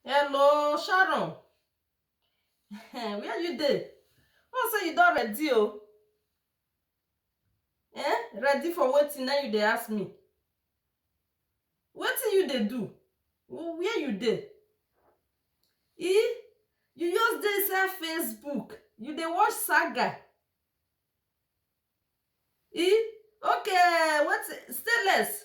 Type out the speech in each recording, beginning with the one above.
Hello, Sharon. Where you dey? Oh, say you don ready o. Eh? Ready for wetin na you dey ask me? Wetin you dey do? Wh- Where you dey? E? You just dey inside Facebook. You dey watch saga. E? Okay, wetin? Stainless.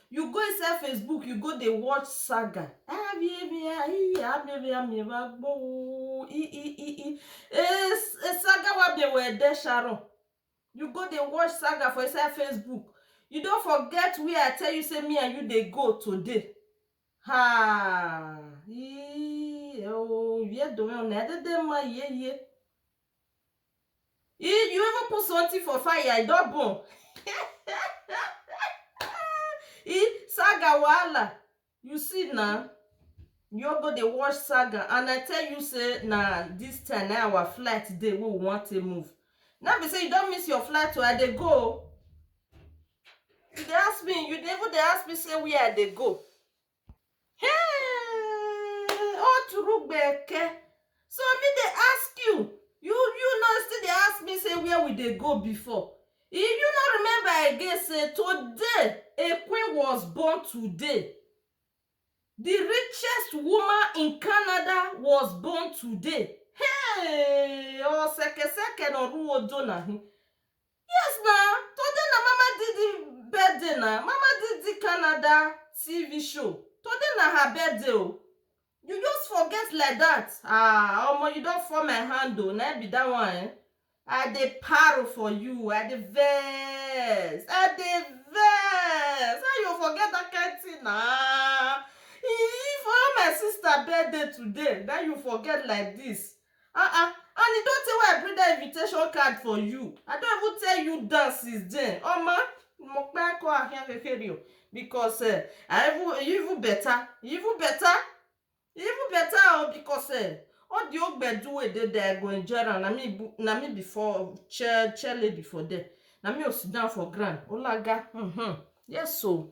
You go inside Facebook, you go dey watch saga. Ah, bi bi ah, i ah, bi bi ah, mi ba gbo. I i i i. Eh, s- eh, saga wa bi we de Sharon. You go dey watch saga for inside Facebook. You don forget where I tell you say me and you dey go today. Ha! Ii, eh, oh, yeah, don't know. Na de de ma ye ye. You you even put something for fire, I don burn. e saga wahala. You see na. You all go dey watch saga and I tell you say na this time na our flight dey wey we wan take move. No be say you don miss your flight o, I dey go o. You dey ask me, you dey even dey ask me say where I dey go. oturugbeke so me dey ask you you you no still dey ask me say where we dey go before you you no remember again say today a queen was born today the richest woman in canada was born today hey osekeseke na oruwo dona hin Yes na, today na mama didi birthday na, mama didi Canada TV show, today na her birthday o, you just forget like that ah omo you don fall my hand o, na im be that one eh, I dey paro for you, I dey vex, I dey vex, how you go forget that kind thing na, ee for all my sister birthday today na im you forget like this. ah ah and e don tey wey I bring that invitation card for you I don even tell you down since then omo mo pe ko ahia feferi o because eh I even you even better you even better you even better o because eh all the old gbedu wey dey there I go enjoy am na me bu na me be for chair chair lady for there na me go sit down for ground olaga um yes o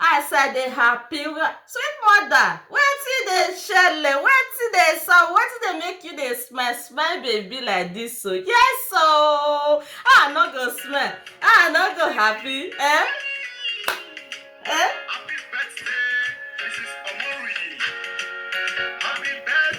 As I dey happy well, sweet mother, wetin dey shele, wetin dey sup, wetin dey make you dey smile, smile baby like this o, yes o, how I no go smile, how I no go happy eh, eh.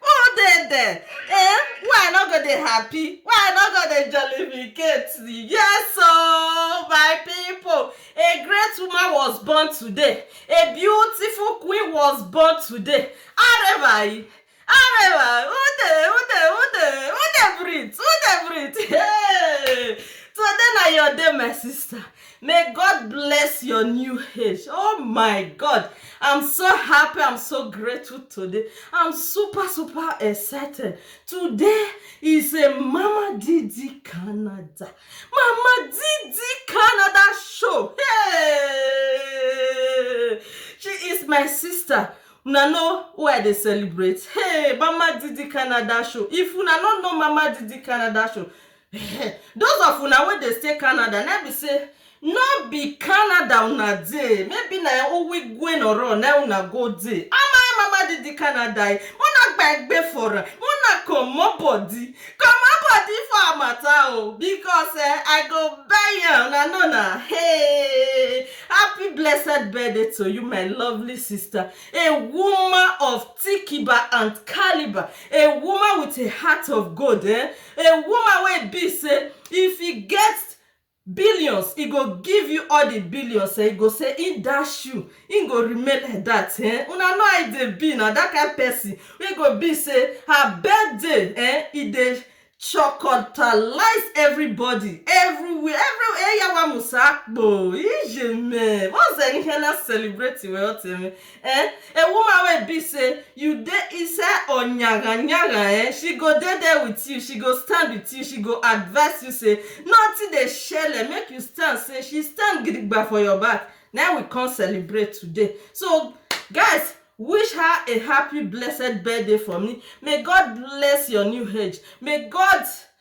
Who dey there? Eh? Why I no go dey happy? Why I no go dey jollificate? Yes oh, my people, a great woman was born today. A beautiful queen was born today. Arẹwà yìí, arẹwà, who dey, who dey, who dey, who dey breathe, who dey breathe? Hey! Today na your day, my sister. May God bless your new age. Oh my God. I'm so happy. I'm so grateful today. I'm super, super excited. Today is a Mama Didi Canada. Mama Didi Canada show. Hey! She is my sister. Una know who I dey celebrate. Hey, Mama Didi Canada show. If una no know Mama Didi Canada show, Those of una wey dey stay Canada na im be sey no be Canada una dey, maybe na Uwigwe Nọrọ na im una go dey. Ama ema ma di di Canada e, mo na gba egbe for am, mo na comot body, comot body for her matter o because eh, I go buy am una know na hey, happy blessed birthday to you my lovely sister, a woman of tikiba and calibre, a woman with a heart of gold eh. A woman wey e be say if e get billions, e go give you all the billions eh, e go say im dash you, im go remain like that eh. Una know how e dey be na, that kind person wey go be say her birthday eh, e dey shorkotalize everybody, everywhere, everywhere eh, yawa musa akpo, ijeme, what's the inhaler celebrating weh, what eh? eh a woman wey be say you dey inside oyaga yaga eh she go dey there with you she go stand with you she go advice you say nothing dey shele make you stand say she stand gidigba for your back na im we come celebrate today so guys wish her a happy blessed birthday for me may God bless your new age may God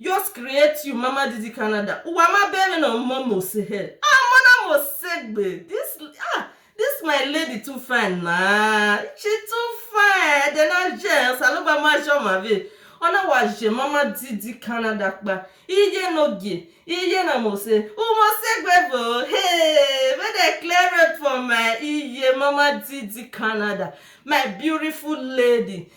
Dios create you mama didi Canada uwa ma bere na mo mo se he ah mona mo segbe this ah this my lady too fine na she too fine de na jens alogba ma jo ma ve ona wa je mama didi Canada pa iye no gie iye na mo se umo segbe bo hey make dem clear road for my iye mama didi Canada my beautiful lady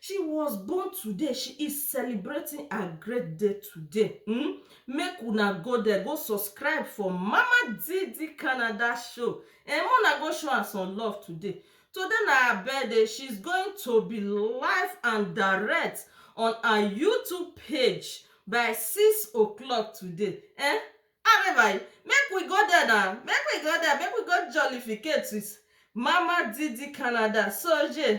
She was born today, she is celebrating her great day today. Hmm? Make una go there, go subscribe for Mama Didi Canada show. And eh, una go show her some love today. Today na her birthday, she's going to be live and direct on her YouTube page by 6 o'clock today. Eh? Arrivai, make we go there now. Make we go there, make we go jollificate with Mama Didi Canada. So, yeah.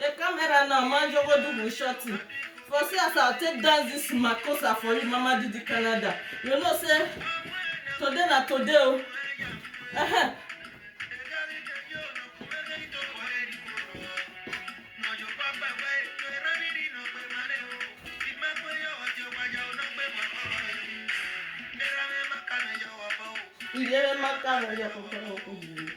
The camera now, man, you go do with shorty. For see as I take dance this makosa for you, Mama Didi Canada. You know, say today na today. oh. Uh-huh. Iye maka na ya kokoro kokoro.